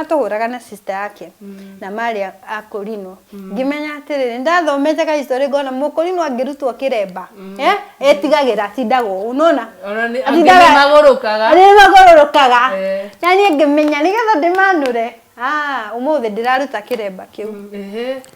matũhũraga na sister yake mm. na marĩ akũrinwo mm. ngĩmenya atĩrĩ nĩ ndathomete ka history ngona mũkũrinwo angĩrutwo kĩremba mm. eh, etigagĩra atindaga ũũ nona magũrũkaga eh. na niĩ ngĩmenya nĩgetha ndĩmanũre ah, ũmũthĩ ndĩraruta kĩremba kĩu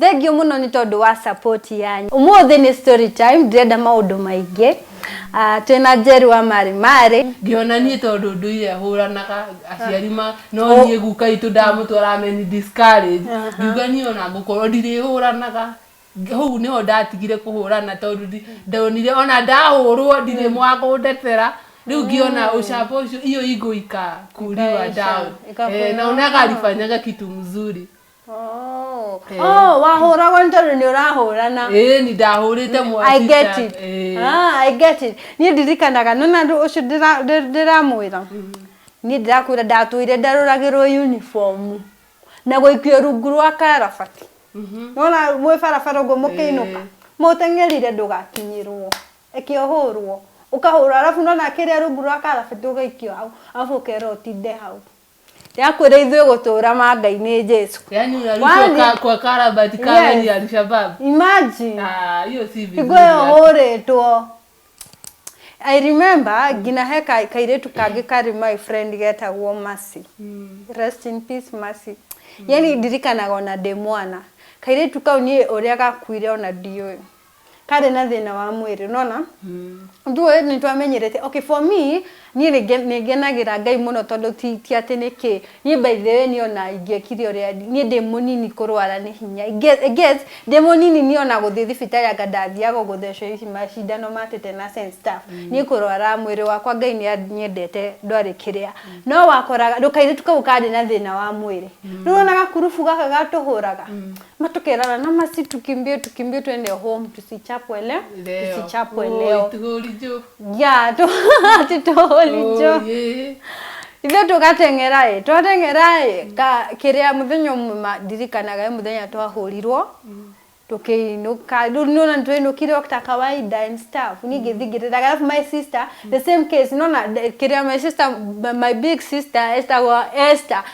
Thengiũ mũno nĩ tondũ wa support yanyu. Ũmũthĩ nĩ story time, ndirenda maũndũ maingĩ. Ah, twĩ na Njeru wa Marĩ Marĩ. Ngĩona niĩ tondũ ndũire ahũranaga aciari ma no oh. niĩ guka itũ ndamũtwara ameni discourage ngiuga niĩ ona ngũkorwo ndirĩhũranaga hau niho ndatigire kũhũrana tondũ ndonire ona ndahũrwo ndirĩ mm. mwa kũndetera riu ngiona mm. ucamba ucio iyo igũika kuriwa down eh, naonaga alifanyanga kitu mzuri Oh, Eh. oh, wahũragwo nĩ tondũ nĩ ũrahũrana ĩĩ ni ndahũrĩte mwana I get teacher. it. Ĩĩ. Ah, I get it. Niĩ ndirikanaga nona andũ ũcio ndĩra- ndĩ- ndĩramwĩra niĩ ndĩrakwĩra ndatũire ndarũragĩrwo uniform na gũikio rungu rwa karabati nona mwĩ barabara ũguo mũkĩinũka mũteng'erire ndũgakinyĩrwo eke ũhũrwo ũkahũrwo arabu nona kĩrĩa rungu rwa karabati ũgaikio hau arabu ũkerwo ũtinde hau Yakwĩra ithuĩ gũtũũra manga-inĩ Jesu. Yaani unarudi Wani- kwa, kwa karabati kama Yes. ni Alshabab. Imagine. Ah, hiyo si vizuri. Igwe hata. hũrĩtwo. I remember nginya he ka- kairĩtu kangĩ karĩ my friend getagwo Mercy. Mm. Rest in peace Mercy. Yaani ndirikanaga ona ndĩ mwana. Kairĩtu kau niĩ ũrĩa gakuire ona ndiũĩ. karĩ na thĩna wa mwĩrĩ nona ithuĩ nĩ twamenyerete okay for me niĩ nĩ nge- nĩ ngenagĩra ngai mũno tondũ ti ti atĩ nĩ kĩ niĩ by the way niĩ ona ingĩekire ũrĩa ndi- niĩ ndĩ mũnini kũrwara nĩ hinya I gue- I guess ndĩ mũnini niĩ ona gũthiĩ thibitarĩ anga ndathiaga gũthecwo ici macindano ma tetenas and stuff niĩ kũrwara mwĩrĩ wakwa ngai nĩ anyendete ndwarĩ kĩrĩa no wakoraga ndũkairĩtu kau karĩ na thĩna wa mwĩrĩ rĩu wona gakurubu gaka gatũhũraga matukerana na masi tukimbie tukimbie twende home tusichapwe le Leo. tusichapwe Oi, leo tugorijo. ya tu titoholijo Oye. ithe tugateng'eraĩ twateng'eraĩ ka kĩrĩa mũthenya ũmwe ma- ndirikanaga ĩ mũthenya twahũrirwo tũkĩinũka rĩu nĩona nĩtwainũkire o ta kawaida and stuff niĩ ngĩthingĩrĩraga alafu my sister the same case nona the- kĩrĩa my sister my- my big sister estagwo Esther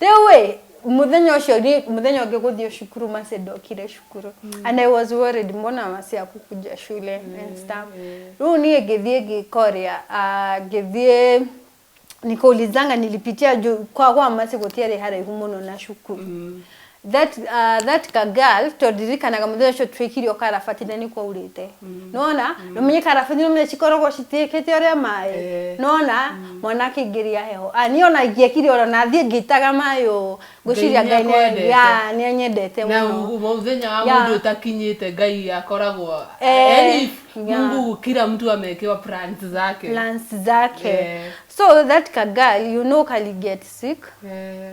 Rĩu-ĩ, mũthenya ũcio niĩ mũthenya ũngĩ gũthiĩ cukuru Mercy ndokire cukuru. And I was worried mbona Mercy akukuja shule and stuff. Rĩu niĩ ngĩthiĩ ngĩka ũrĩa, ah, ngĩthiĩ nikaulizanga nilipitia juu kwa kwa Mercy gũtiarĩ haraihu mũno na cukuru. That, uh, that ka girl tondĩrikanaga mũthenya ũcio twĩkirio karabati na nĩ kwaurĩte nona nĩ ũmenye karabati nĩ ũmenye cikoragwo citiĩkĩte ũrĩa maĩ Eh. nona mwana akĩingĩria heho Ah, niĩ ona ingĩekire ũrĩa na thiĩ ngĩitaga maĩ ũũ ngwĩciria Ngai ngai nĩ- nĩakwendete. ya, nĩ anyendete na mũno u- mũthenya wa Ya. mũndũ ũtakinyĩte ngai akoragwo Eh, yani if ya. mungu kila mtu amekewa plans zake plans zake Eh. so that ka girl you know kali get sick Eh,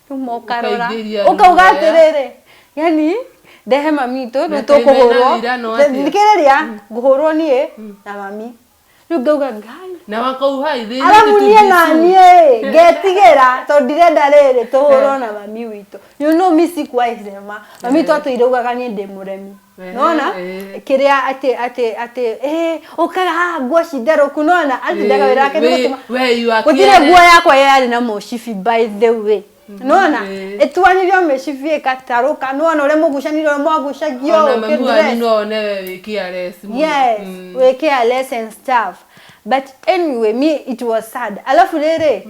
ũkarora Ũkaingĩria ũkauga ruo ya- atĩrĩrĩ yani ndehe mami itũ Na rĩu kaĩ mena tũkũhũrwo ũira no atĩa? thikĩrĩria ngũhũrwo niĩ na mami rĩu ngauga ngai na wakauha ithĩ arabu niĩ na niĩ ĩ, ngetigĩra tondũ ndirenda rĩrĩ tũhũrwo na mami witũ you know me sikuwa irema mami witũ atũiraugaga niĩ ndĩ mũremi nona kĩrĩa atĩ atĩ atĩ eh ũkaga haha nguo cinderũku nona atĩ ndagawĩra wake nĩgũtuma gũtirĩ nguo yakwa yarĩ na mũcibi by the way nona ĩtuanire o mĩcibi ĩgatarũka nona ũrĩa mũgucanire ũrĩa mwagucagio yes wĩ careless and stuff but anyway me it was sad alafu rĩrĩ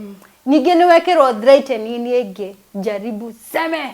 ningĩ nĩ wekĩrwo threatening ĩngĩ jaribu seme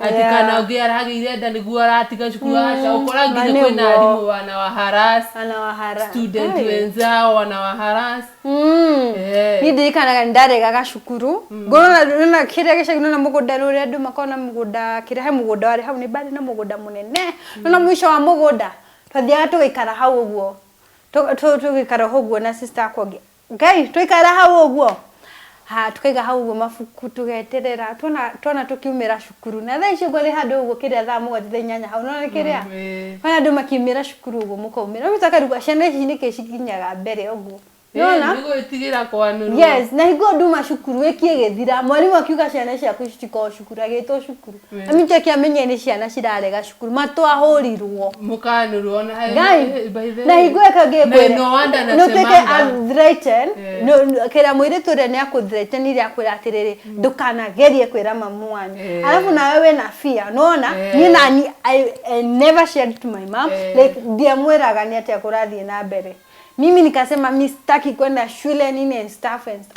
ati Yeah. kana å ngä aragä nda nä guo aratiga cukuru aca å kora Na nginya kwä na nĩguo. arimå wana wa haras Ana wa hara. student Ai. wenzao wana wa haras Mm. Eh. Niĩ ndirikanaga nĩ ndaregaga cukuru ngorona nona kĩrĩa gĩcagi nona mũgũnda rĩu ũrĩa andũ makona mũgũnda kĩrĩa he mũgũnda warĩ hau nĩ mbarĩ na mũgũnda mũnene nona mũico wa mũgũnda twathiaga tũgĩikara hau ũguo Tũ- tũ- tũgĩikara hau ũguo na sister akwa ũngĩ ngai twaikara hau ũguo ha tukaiga hau ũguo mabuku tugeterera twana twana tukiumira cukuru na thaa icio ũguo rĩ handũ ũguo kĩrĩa thaa mũgwanja thaa inyanya hau nona kĩrĩa kana andũ makiumira cukuru ũguo mũkaumira no mĩtakaruga ciana ici nĩkĩ cikinyaga mbere ũguo nona nĩ gwĩtigĩra kwanĩrwo yes na hingo nduma cukuru wĩkie gĩthira mwarimũ akiuga ciana ciaku citiko cukuru agĩtwo cukuru Na nĩkĩo kĩamenyire nĩ ciana cirarega cukuru matwahũrirwo Mũkanũrwo ona hayo- Ngai, by the na way. hingo ĩka Na ngĩkwĩra no wonder nĩ ũtuĩke anasemanga. threaten Eh. no- no- kĩrĩa mũirĩtu ũrĩa nĩ akũthreatenire akwĩra atĩrĩrĩ ndũkanagerie kwĩra mamu wanyu Eh. arabu nawe wĩ na fear nona Eh. niĩ nani I- I never shared to my mom Eh. like ndiamwĩraga nĩ atĩa kũrathiĩ na mbere mimi nikasema mi sitaki kwenda shule nini and stuff and stuff.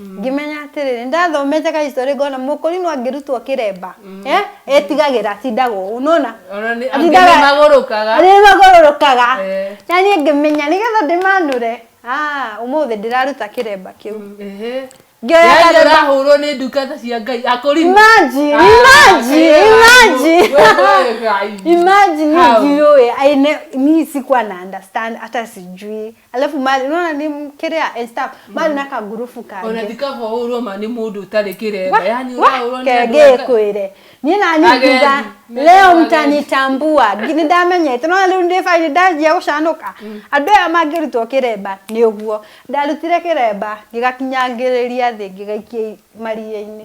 ngĩmenya atĩrĩrĩ nĩ ndathomete ka history ngona mũkũrinũ angĩrutwo kĩremba eh, etigagĩra atindaga ũũ nona Ona nĩ- angĩ nĩ magũrũkaga. magũrũkaga Eh. na niĩ ngĩmenya nĩgetha ndĩmanũre Ah, ũmũthĩ ndĩraruta kĩremba kĩu Ehe. Ngĩoya Yaani karemba. ũrahũrwo nĩ ndungata cia ngai akũrinũ Imagine, Ah, imagine, Ngai wangu. imagine. Wewe Ngai. imagine How? nijiue aine mi sikuwa na understand hata sijui Alafu mali unaona ni m- kiria and stuff mali na kagurubu ona kange ndikahũrwo ma nĩ mũndũ ũtarĩ kĩremba yani ũrahũrwo nĩ andũ aka- kegĩkwĩre niĩ nani Agendi, ngiuga methagwo leo agendi. mtanitambua ngi- nĩndamenyete nona rĩu ndĩ bainĩ ndanjia gũcanũka andũ aya mangĩrutwo kĩremba nĩ ũguo ndarutire kĩremba ngĩgakinyangĩrĩria thĩ ngĩgaikia i- maria-inĩ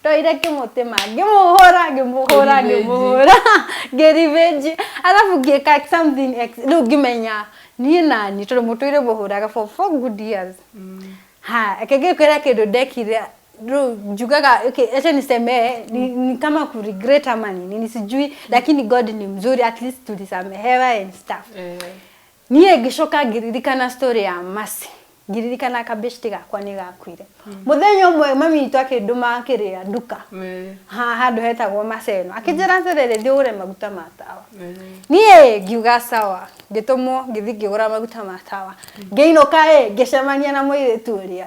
ndoire kĩmũtĩma ngĩmũhũra ngĩmũhũra Revenge. ngĩmũhũra ngĩrivenge arabu ngĩka something ex- rĩu ngĩmenya niĩ nani tondũ mũtũire mũhũraga for four good years ha akĩngĩkwĩra kĩndũ ndekire rĩu njugaga okay, acha niseme ni, ni kama kuregret ama ni nini sijui lakini god ni mzuri at least tulisamehewa and stuff Eh. Niĩ ngĩcoka ngĩririkana story ya Mercy. Ngĩririkana kabeshti gakwa nĩ gakuire. Mũthenya ũmwe mami witũ akĩndũma kĩrĩa nduka. Ha- Handũ hetagwo Maseno. Akĩnjĩra atĩrĩrĩ thiĩ ũgũre maguta ma tawa. Niĩ ngiuga sawa. Ngĩtũmwo ngĩthiĩ ngĩgũra maguta ma tawa. Ngĩinũka ĩ ngĩcemania na mũirĩtu ũrĩa.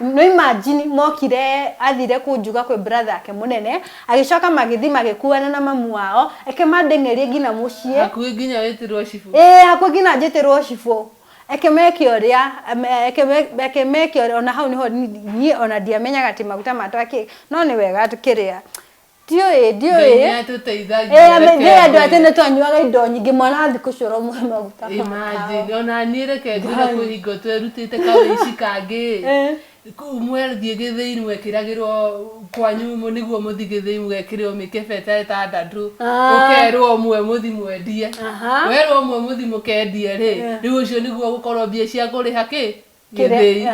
No imagine mokire athire kunjuga kwĩ brother ake mũnene agĩcoka magĩthi magĩkuana na mamu wao eke mandeng'erie nginya mũciĩ hakuhĩ nginya wĩtĩrwo cibũ ĩĩ hakuhĩ nginya njĩtĩrwo cibũ eke meke ũrĩa me- eke me- eke meke ũrĩa ona hau nĩho ni- niĩ ona ndiamenyaga atĩ maguta matwa kĩ no nĩ wega kĩrĩa ndiũĩ ndiũĩ Ngai nĩatũteithagia, Eh, ame- reke ndiũĩ andũ a ngwĩre. tene twanyuaga indo nyingĩ mwana wa thikũ icio ũromũhe maguta ma Imagine, tawa. ona niĩ reke ngwĩre Ngai. kwĩ hingo twerutĩte kawĩici kangĩ Eh. Kũ- mwathiĩ gĩthĩi mwekĩragĩrwo kwanyu mũ- nĩguo mũthi gĩthĩi mũgekĩrĩrwo mĩkebe ta ĩtandatũ Ah. ũkerwo ũmwe mũthi mwendie Aha. werwo ũmwe mũthi mũkendie rĩ rĩu ũcio nĩguo ũgũkorwo mbia cia kũrĩha kĩ gĩthĩi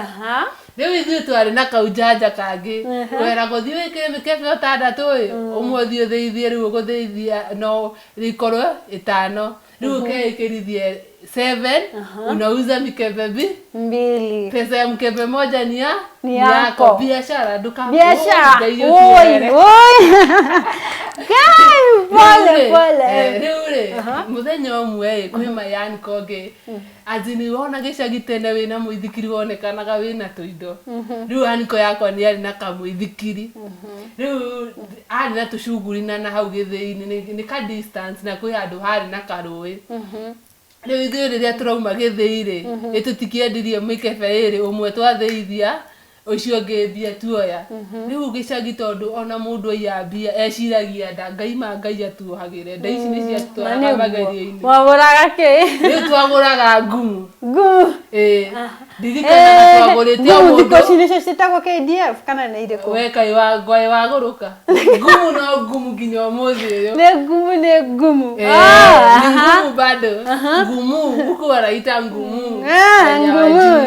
rĩu ithuĩ twarĩ na kaunjanja kangĩ wera gũthiĩ wĩkĩre mĩkebe ũtandatũ ĩ mm. ũmwe ũthiĩ ũthĩithie rĩu ũgũthĩithia no rĩkorwo ĩtano rĩu mhm. ũkeĩkĩrithie seven unauza mikebe bi mbili pesa ya mkebe moja ni ya ni yako biashara duka biashara oi oi kai pole pole eh, rĩu rĩ mũthenya ũmwe ĩ kwĩ mayani kongĩ mm. Anji nĩũrona gĩcagi tene wĩna mũithikiri wonekanaga wĩna tũindo rĩu aniko yakwa nĩarĩ na kamũithikiri rĩu arĩ na tũcuguri na nahau gĩthĩinĩ nĩ- nĩ ka distance na kwĩ handũ harĩ na karũĩ rĩu ithuĩ rĩrĩa tũrauma gĩthĩi rĩ nĩtũtikĩendirie mĩkebe ĩrĩ ũmwe twathĩithia Ũcio ũngĩ mbia tuoya. Rĩu gĩcagi tondũ ona mũndũ aiya mbia eciragia nda. Ngai ma Ngai atuohagĩre. Nda ici nĩ ciatũtwaraga magerio-inĩ. Mwagũraga kĩ? Rĩu twagũraga ngumu. Ngumu? Ĩĩ. Ndirikanaga twagũrĩte o mũndũ. Ngumu thikũ ici nĩcio ciĩtagwo KDF kana nĩ irĩkũ? We kaĩ wangwaĩ wagũrũka. Ngumu no ngumu nginya ũmũthĩ ũyũ. Nĩ ngumu nĩ ngumu. Nĩ ngumu bado. Ngumu huku wanaita ngumu. Ngumu.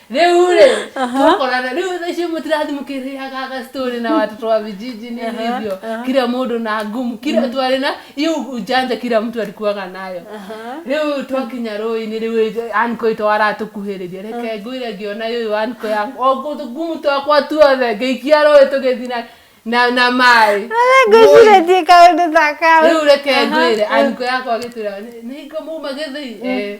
rĩu rĩ twakorana rĩu thaa icio mũtirathiĩ mũkĩrĩaga gastori na watoto wa vijiji nini hivyo kila mũndũ na ngumu kila twarĩ na hiyo ujanja kila mtu alikuwaga nayo rĩu twakinya rũĩ-inĩ rĩu anko itũ aratũkuhĩrĩria reke ngwĩre ngĩona yũyũ anko yakwa o ngumu twakwa tuothe ngĩikia rũĩ tũgĩthiĩ na na na maĩ ngwĩciretie kaũndũ ta kau rĩu reke ngwĩre anko yakwa agĩtwĩra nĩ hingo muma gĩthĩi Eh,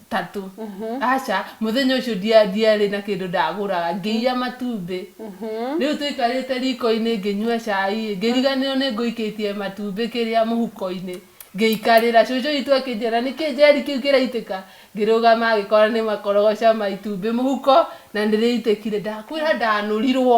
tatũ aca mũthenya ũcio ndia- ndiarĩ na kĩndũ ndagũraga ngĩiya matumbĩ rĩu tũikarĩte riko-inĩ ngĩnyua cai ngĩriganĩrwo nĩ ngũikĩtie matumbĩ kĩrĩa mũhuko-inĩ ngĩikarĩra cũcũ witũ akĩnjĩra nĩkĩ njeri kĩu kĩraitĩka ngĩrũgama ngĩkora nĩ makorogoca ma itumbĩ mũhuko na nĩ rĩitĩkire ndakwĩra ndanũrirwo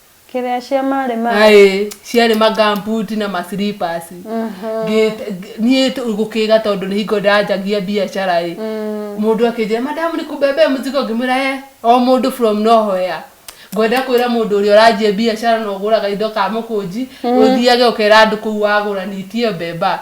Kĩrĩa cia marĩ marĩ. Aĩ, ciarĩ ma gumboot na ma slippers. Ngĩ- ngĩ- niĩ tũ- gũkĩga tondũ nĩ hingo ndanjagia biacara ĩ mũndũ akĩnjĩra madamu nĩ kũmbembea mũzigo ngĩmwĩra he o mũndũ from nowhere ngwenda kwĩra mũndũ ũrĩa ũranjia biacara na ũgũraga indo ka mũkũnji ũthiage ũkera andũ kũu wagũra nitie mbemba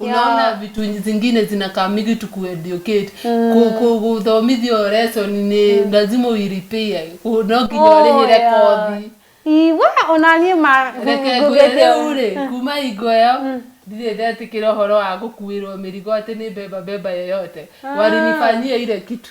unaona vitu zingine zinakaa mingi to kueducate Ku- ku- kuthomithio lesson ni lazima uiripie Ku- no nginya urĩhĩre kothi iwa ona niĩ ma reke ngwĩre rĩu rĩ kuma hingo ĩyo ndirĩ ndetĩkĩra ũhoro wa gũkuĩrwo mĩrigo atĩ nĩ mbemba mbemba yoyote walinifanyia ile kitu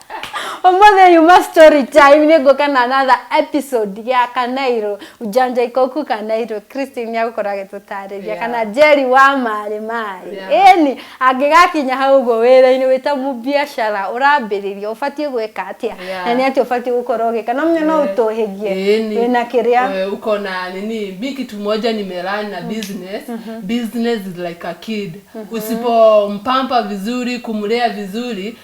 Ũmũthĩ yuma story time nĩ ngũka na another episode ya Kanairo ujanja ikoku Kanairo Christine agũkora agĩtũtarĩria Yeah. kana Jerry wa marĩ marĩ Yeah. ĩni angĩgakinya hau ũguo wĩra-inĩ wĩ ta mũbiacara ũrambĩrĩria ũbatiĩ gwĩka atĩa Yeah. na nĩ atĩ ũbatiĩ gũkorwo ũgĩka na mũnyo no ũtũhĩgie Ĩni. wĩna kĩrĩa Eh, uko na nini mi kitu moja nimelan na business business is like a kid usipompampa vizuri kumlea vizuri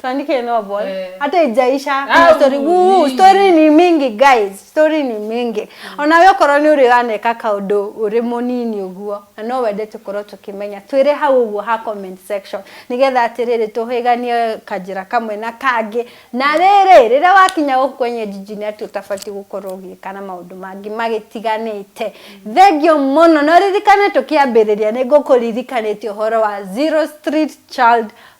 tuandike novel Eh. hata ijaisha Au, kuna story Wuu, nyingi. story ni mingi guys story ni mingi onawe okorwo nĩ ũrĩ waneka kaũndũ ũrĩ mũnini ũguo na no wende tũkorwo tũkĩmenya twĩre hau ũguo ha comment section nĩgetha atĩrĩrĩ tũhĩganie kanjĩra kamwe na kangĩ na rĩrĩ rĩrĩa wakinya gũkũ kwenye jiji nĩ atĩ ũtabatiĩ gũkorwo ũgĩka na maũndũ mangĩ magĩtiganĩte thengio mũno na ũririkane tũkĩambĩrĩria nĩ ngũkũririkanĩtie ũhoro wa zero street child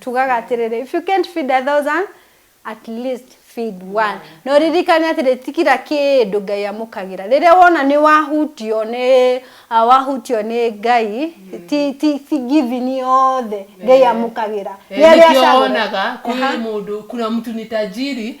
tugaga atĩrĩrĩ if you can't feed a thousand at least feed one na ũririkane atĩrĩ ti kira kĩndũ ngai amũkagĩra rĩrĩa wona nĩ wahutio nĩ ah, wahutio nĩ ngai ti ti ti givini yothe ngai amũkagĩra Nĩ arĩa nĩkĩo acagũra. wonaga kwĩ mũndũ kuna mtu ni tajiri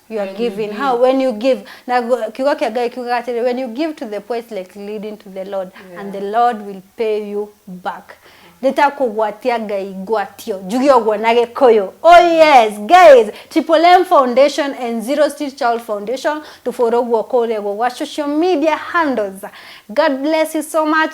you are When you giving give. how when you give na gu- kiugo kĩa ngai kiugaga atĩrĩ when you give to the poor it's like leading to the lord yeah. and the lord will pay you back nĩtakũgwatia ngai ngwatio njuge ũguo na gĩkũyũ oh yes guys triple m foundation and zero street child foundation tũbũrũguo kũrĩa guo gwa social media handles god bless you so much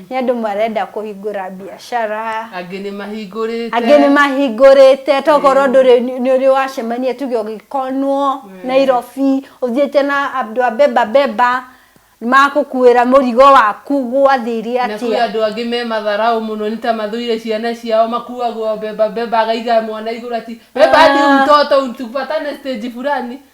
Nĩ andũ marenda kũhingũra mbiacara. Angĩ nĩ mahingũrĩte. Angĩ nĩ mahingũrĩte. Tokorwo ndũrĩ nĩ ũrĩ wacemania tuge ũgĩkonwo Nairobi, ũthiĩte na andũ a beba beba, magũkuĩra mũrigo waku gwathire atĩa. Na kwĩ andũ angĩ me matharaũ mũno nĩ ta mathũire ciana ciao makuagwo beba beba agaiga mwana igũrũ ati beba hadi mtoto tupatane stage fulani.